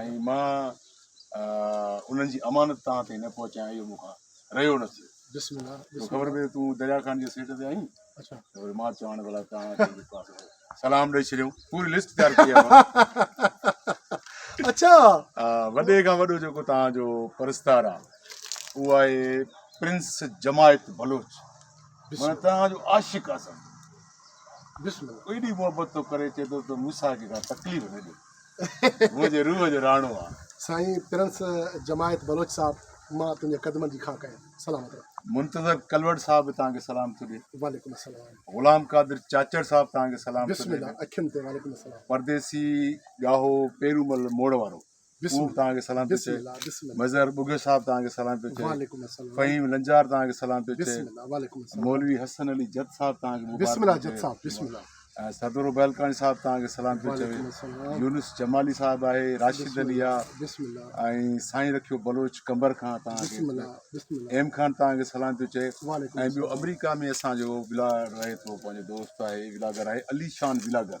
۽ مان انهن جي امانت توهان تائين نه پهچايان اهو مون کان رهيو نه ٿيو تو خبر پئي تون دريا خان جي سيٽ تي آهين ته وري مان چوان ڀلا توهان کي به پاسو سلام ڏئي ڇڏيو پوري لسٽ تيار ڪئي آهي مان اچا وڏي کان وڏو جيڪو توهان جو پرستار آهي اهو آهي پرنس جماعت بلوچ مانا توهان جو عاشق آهي بسم الله ايڏي محبت ٿو ڪري چئي ٿو ته موسيٰ کي ڪا تڪليف نه ڏي منهنجي روح جو راڻو آ. سائين پرنس جماعت بلوچ صاحب مان تنهنجي قدمن جي خاڪ ۽ سلام ادب. منتظر ڪلوڙ صاحب به توهان کي سلام ٿو ڏي. وعليڪم السلام. غلام قادر چاچڙ صاحب توهان کي سلام ٿو ڏي. بسم الله اکين تي وعليڪم السلام. پرديسي ڳاهو پيرومل موڙ وارو. ڪوڪ توهان کي سلام پيو چئي مظهر ٻگهيو صاحب توهان کي سلام پيو چئي فهيم لنجار توهان کي سلام پيو چئي مولوي حسن علي جت صاحب توهان کي مبارڪ چئي سردور بيلڪاڻي صاحب توهان کي سلام پيو چوي يونس جمالي صاحب آهي راشد علي آهي ۽ سائين رکيو بلوچ قمبر کان توهان کي ايم خان توهان کي سلام پيو چئي ۽ ٻيو آمريڪا ۾ اسانجو ولاگر رهي ٿو پنهنجو دوست آهي ولاگر آهي علي شان ولاگر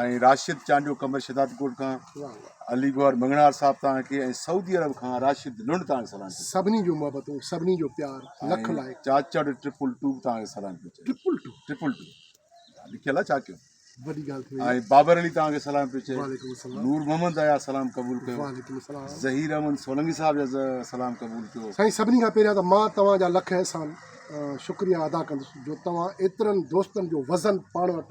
۽ راشد چانڊيو قمر شهداد ڪوٽ کان، علي گوهر مڱڻهار صاحب توهان کي ۽ سعودي عرب کان راشد لنڊ توهان کي سلام ڪيو ٿو. سڀني جون محبتون سڀني جو پيار لک لائق. چاچڙ ٽرپل ٽو به توهان کي سلام پيو چئي. Triple two. ٽرپل ٽو لکيل آهي ڇا ڪيون. وڏي ڳالهه ٿي وئي. ۽ بابر علي توهان کي سلام پيو چئي. وعليڪم السلام. نور محمد اياز سلام قبول ڪيو. وعليڪم السلام. ظهير احمد سولنگي صاحب جا سلام قبول ڪيو. سائين سڀني کان پهريان ته مان توهان جا لک احسان شڪريا ادا ڪندس جو توهان ايترن دوستن جو وزن پاڻ وٽ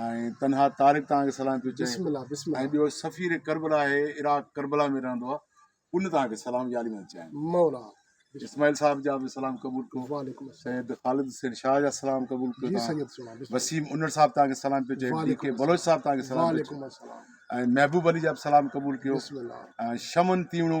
۽ تنها طارق توهان کي سلام پيو چئي ۽ ٻيو سفير ڪربلا آهي عراق ڪربلا ۾ رهندو آهي ان توهان کي سلام يا علي مدد چيائين مولا اسماعيل صاحب جا به سلام قبول ڪيو سيد خالد حسين شاهه جا سلام قبول ڪيو وسيم انڙ صاحب توهان کي سلام پيو چئي ڊي ڪي بلوچ صاحب توهان کي سلام پيو چئي ۽ محبوب علي جا به سلام قبول ڪيو ۽ شمن تيوڻو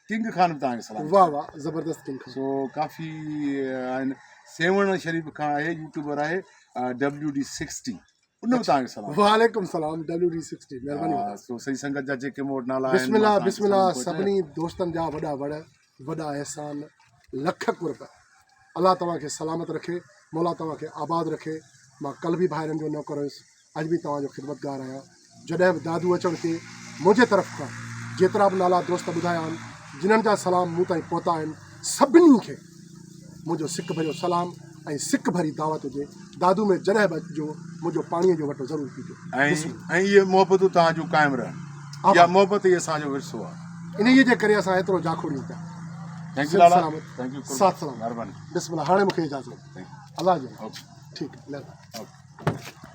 ڪنگ خان به توهان کي سلام واھ واھ زبردست ڪنگ خان سو ڪافي آهن سيوهڻ شريف کان آهي يوٽيوبر آهي ڊبليو ڊي سڪسٽي ان به توهان کي سلام وعليڪم سلام ڊبليو ڊي سڪسٽي مهرباني وڏا سو سڄي سنگت جا جيڪي مور نالا آهن بسم الله بسم الله سڀني دوستن جا وڏا وڙ وڏا احسان لک قرب الله توهان کي سلامت رکي مولا توهان کي آباد رکي مان ڪل به ڀائرن جو نوڪر هيس اڄ به توهان جو خدمتگار آهيان. جڏهن به دادو اچڻ تي منهنجي طرف کان جيترا به نالا دوست ٻڌايا آهن، جنھن جا سلام مون تائين پهتا آهن، سڀني کي منهنجو سڪ ڀريو سلام ۽ سڪ ڀري دعوت هجي، دادو ۾ جڏهن به اچجو، منهنجو پاڻيء جو وٽو ضرور پيجو. بسم الله. ۽ اهي محبتون توهان جون قائم رهن. آباد. اها محبت ئي اسان جو ورثو آهي. انهيء جي ڪري اسان ايترو جاکوڙيون پيا. ٿينڪ يو سنڌ لالا. سلامت. ٿينڪ يو قربان. ساٿ سلامت. مهرباني. بسم الله هاڻي مونکي اجازت. Thank you. الله جي ٿينڪ يو. ٺيڪ مهرباني. اوڪي.